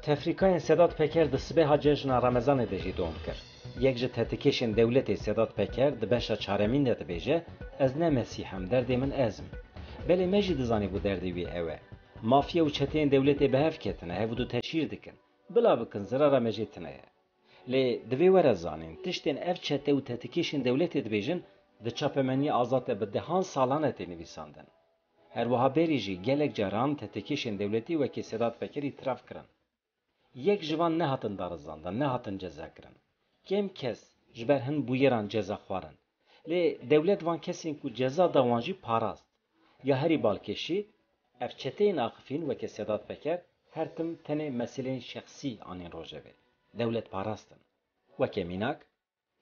Tefrîkayên Sedat Peker di sibêha cejna Remezanê de jî dom kir. Yek ji tetikêşên dewletê Sedat Peker di beşa çaremîn de dibêje, Ez ne Mesîh im, derdê min ez im. Belê me jî dizanîbû derdê wî ew e. Mafya û çeteyên dewletê bi hev ketine, hev du teşhîr dikin. Bila bikin, zirara me jê tune ye. Lê divê were zanîn, tiştên ev çete û tetikêşên dewletê dibêjin, di çapemeniyê azad de bi dehan salan e tê nivîsandin. Her wiha berî jî gelek caran tehdêkêşên dewletî wekî Sedat Pekerî tiraf kirin. Yek ji van nehatin darizandin, nehatin cezakirin. Kêm kes ji ber hin bûyeran ceza xwarin. Lê dewlet van kesên ku ceza da wan jî parast. Ya herî balkêşî, ev çeteyên axifîn wekî Sedat Peker her tim tenê meseleyên şexsî anîn rojevê. Dewlet parastin. Weke mînak,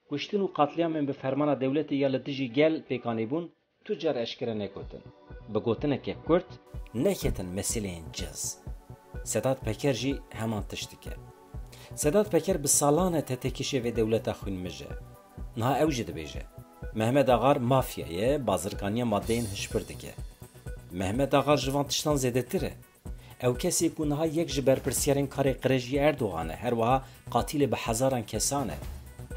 Kuştin û qatlîamên bi fermana dewletê ya li dijî gel pêk anîbûn tu car eşkere negotin. Bi gotineke kurt neketin meseleyên cez. Sedat Peker jî heman tişt dike. Sedat Peker bi salan e tetekişê vê dewleta xwînmij e. Niha ew jî dibêje. Mehmet Axar mafya ye, bazirganiya madeyên hişbir dike. Mehmet Axar ji van tiştan zêdetir e. Ew kesê ku niha yek ji berpirsyarên karê qirêjî Erdogan e, her wiha qatîlê bi hezaran kesan e.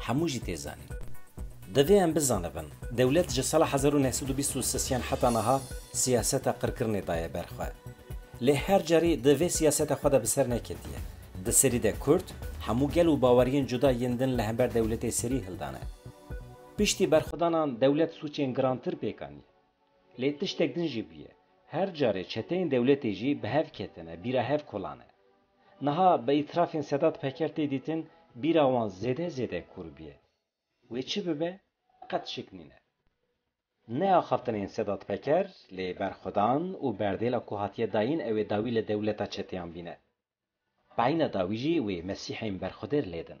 Hemû jî tê zanîn. Divê em bizanibin, dewlet ji sala hezar û neh sed û bîst û sis yan heta niha siyaseta qirkirinê daye ber xwe. Lê her carî di vê siyaseta xwe de bi ser neketiye. Di serî de kurd, hemû gel û baweriyên cuda yên din li hember dewletê serî hildane. Piştî berxwedanan dewlet sûcên girantir pêk aniye. Lê tiştek din jî bûye. Her carê çeteyên dewletê jî bi hev ketine, bîra hev kolane. Niha bi îtirafên Sedat Peker tê dîtin, bîra wan zêde zêde kûr bûye. Wê çi bibe, qet şik nîne. Ne axaftinên Sedat Peker, lê berxwedan û berdêla ku hatiye dayîn ew ê dawî li dewleta çeteyan bîne. Peyna dawî jî wê Mesîhên berxwedêr lêdin.